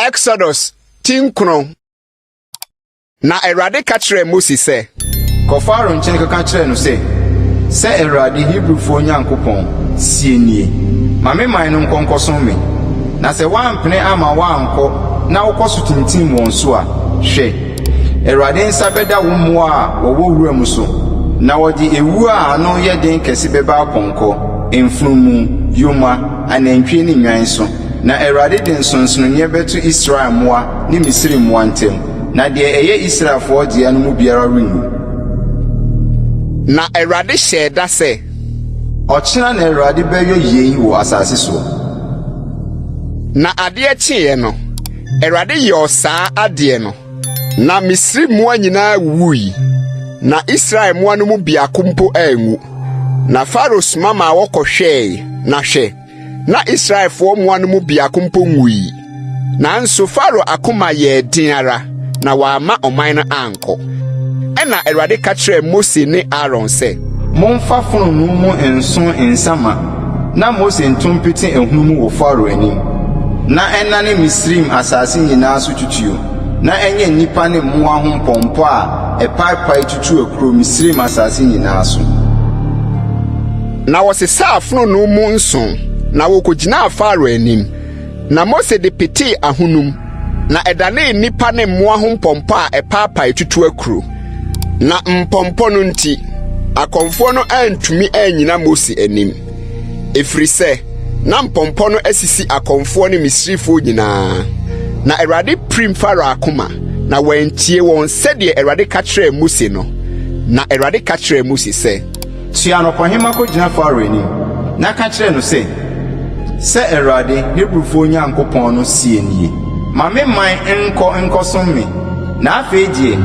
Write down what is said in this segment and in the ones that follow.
Exodus ti nkron na Awurade ka kyerɛɛ Mose sɛ. Kɔ Farao nkyɛn kɔka kyerɛ no sɛ, sɛ Awurade Hebrifoɔ Nyankopɔn sie nie, ma me man no nkɔ nkɔsom me. Na sɛ woampene amma wɔankɔ na wokɔ so tintim wɔn so a, hwɛ, Awurade nsa bɛda wo mmoa a wɔwɔ wuram so, na wɔde awuo a ano yɛ den kɛse bɛba apɔnkɔ, mfunumu, yoma, anantwie ne nnwan so. Na Awurade de nsonsonoeɛ bɛto Israel mmoa ne Misri mmoa ntam, na deɛ ɛyɛ Israelfoɔ dea no mu biara renwu. Na Awurade hyɛɛ da sɛ. Ɔkyena na Awurade bɛyɔ yei wɔ asase soɔ. Na adeɛ kyeeɛ no, Awurade yɔɔ saa adeɛ no, na Misri mmoa nyinaa wuwui, na Israel mmoa no mu biako mpo anwu. Na Farao soma maa wɔkɔhwɛɛe, na hwɛ! na Israelfoɔ mmoa no mu biako mpo nwui. Nanso Farao akoma yɛɛ den ara, na wamma ɔman no ankɔ. kɔ. Ɛnna Awurade ka kyerɛɛ Mose ne Aaron sɛ. Momfa fononoo mu nsõ nsa ma, na Mose nto mpete ahunu mu wɔ Farao anim, na ɛnnane Misraim asase nyinaa so tutuo, na ɛnyɛ nnipa ne mmoa ho mpɔmpɔ a ɛpaepae tutu akuro Misraim asase nyinaa so. Na wɔsesaa fononoo mu nsõ, na wɔkɔgyinaa Farao anim. Na Mose de petee ahonum, na ɛdanee nnipa ne mmoa ho mpɔmpɔ a ɛpaapae tutu akuro. Na mpɔmpɔ no nti, akɔmfoɔ no antumi annyina Mose anim, ɛfiri sɛ na mpɔmpɔ no asisi akɔmfoɔ ne Misrifoɔ nyinaa. Na Awurade pirim Farao akoma, na wantie wɔn sɛdeɛ Awurade ka kyerɛɛ Mose no. Na Awurade ka kyerɛɛ Mose sɛ. Soa anɔpahema kɔgyina Farao anim, na ka kyerɛ no sɛ, 'Sɛ Awurade, Hebrifoɔ Nyankopɔn no seɛ nie, Ma me man nkɔ nkɔsom me, na afei deɛ,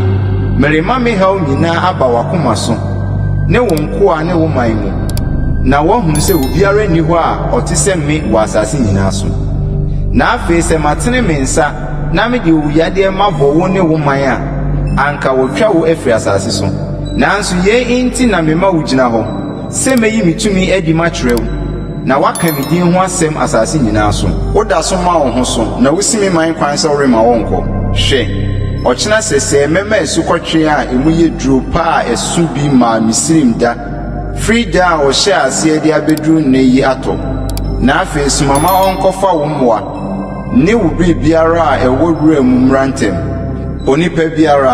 merema me haw nyinaa aba w'akoma so ne wo nkoa ne wo man mu, na woahunu sɛ obiara nni hɔ a ɔte sɛ me wɔ asase nyinaa so. Na afei sɛ matene me nsa na mede owuyadeɛ mabɔ wo ne wo man a, anka wɔatwa wo afiri asase so. Nanso yei enti na mema wogyina hɔ, sɛ mɛyi me tumi adi makyerɛ wo, na woaka me din ho asɛm asase nyinaa so. Woda so ma wo ho so, na wosi me man kwan sɛ woremma wɔnkɔ. Hwɛ! Ɔkyena sɛsɛɛ mɛma asukɔtweaa a emu yɛ duro pa a ɛso bi maa Misraim da firi da a wɔhyɛɛ aseɛ de abɛduru nnɛ yi atɔ. Na afei soma ma ɔnkɔfa wo mmoa. Ne wo biribiara a ɛwɔ wura mu mmra ntɛm. Onipa biara,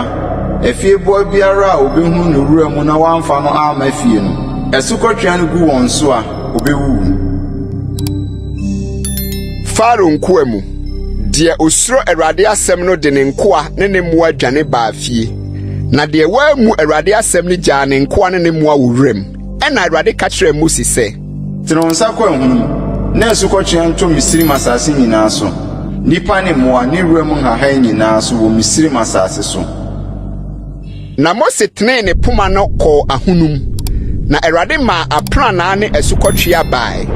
afieboa biara a obehu no wura mu na wamfa no amma fie no, asukɔtweaa no gu wɔn so a, obewuwu. Farao nkoa mu deɛ osuro Awurade asɛm no de ne nkoa ne ne mmoa dwane baa fie, na deɛ wammu Awurade asɛm no gyaa ne nkoa ne ne mmoa wɔ wuram. Ɛnna Awurade ka kyerɛɛ Mose sɛ. Tene wo nsa kɔ ahum mu, na asukɔtweaa ntɔ Misraim asase nyinaa so, nnipa ne mmoa ne wuram nhahan nyinaa so wɔ Misraim asase so. Na Mose tenee ne poma no kɔɔ ahonu mu, na Awurade maa aprannaa ne asukɔtweaa bae,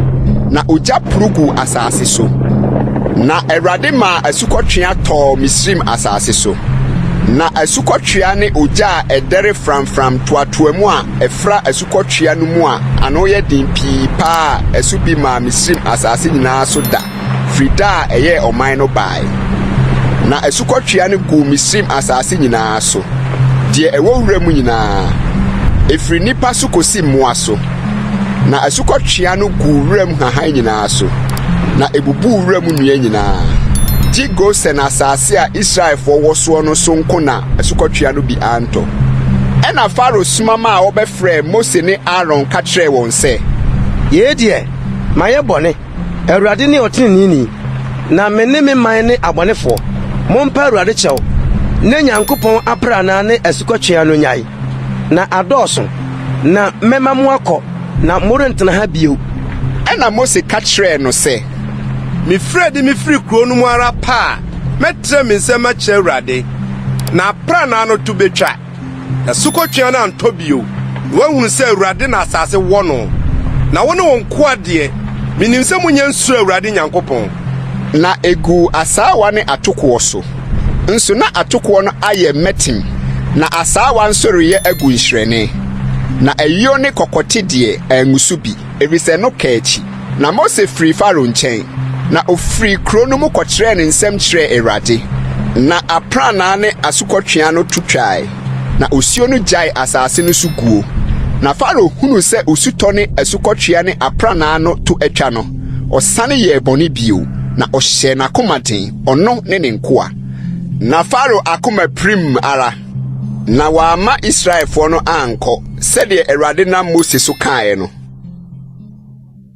na ogya poro guu asase so. Na Awurade maa asukɔtweaa tɔɔ Misraim asase so, na asukɔtweaa ne ogya a ɛdɛre framfram toatoaa mu a ɛfra kɔtwea no mu a ano yɛ den pii paa a ɛso bi maa Misraim asase nyinaa so da firi da a ɛyɛɛ ɔman no bae. Na asukɔtwea no guu Misraim asase nyinaa so, deɛ ɛwɔ wuram nyinaa, ɛfiri nnipa so kɔsi mmoa so. Na asukɔtwea no guu wuram nhahan nyinaa so, na ɛbubuu wuram nnua nyinaa. Gye Gosen asase a Israelfoɔ wɔ soɔ no so nko na asukɔtweaa no bi antɔ. Ɛnna Farao soma maa wɔbɛfrɛɛ Mose ne Aaron ka kyerɛɛ wɔn sɛ. Yei deɛ, mayɛ bɔne. Awurade ne ɔteneneeni, na me ne me man ne abɔnefoɔ. Mompa Awurade kyɛw ne Nyankopɔn aprannaa ne asukɔtweaa no nnyae, na adɔɔso, na mɛma moakɔ, na morentena ha bio. Ɛnna Mose ka kyerɛɛ no sɛ. Mefiri adi mefiri kuro no mu ara pɛ a, Mɛtrɛ me nsam akyerɛ Awurade, na aprannaa no to betwa, na sukɔtweaa no antɔ bio, na wɔahunu sɛ Awurade na asase wɔ no. Na wo ne wo nkoa deɛ, menim sɛ monyɛ nsuroo Awurade Nyankopɔn. Na eguu asaawa ne atokoɔ so nso, na atokoɔ no ayɛ mmɛtem, na asaawa nso reyɛ agu nhyerɛnne, na ayuo ne kɔkɔte deɛ, angu so bi, ɛfiri sɛ no kaa akyi. Na Mose firii Farao nkyɛn, na ɔfirii kuro no mu kɔkyerɛɛ ne nsɛm kyerɛɛ Awurade. Na aprannaa ne asukɔtweaa no to twae, na osuo no gyaee asase no so guo. Na Farao hunuu sɛ osutɔ ne asukɔtweaa ne aprannaa no to atwa no, ɔsane yɛɛ bɔne bio, na ɔhyɛɛ n'akoma den, ɔno ne ne nkoa. Na Farao akoma pirim ara, na wamma Israelfoɔ no ankɔ, sɛdeɛ Awurade nam Mose so kaeɛ no.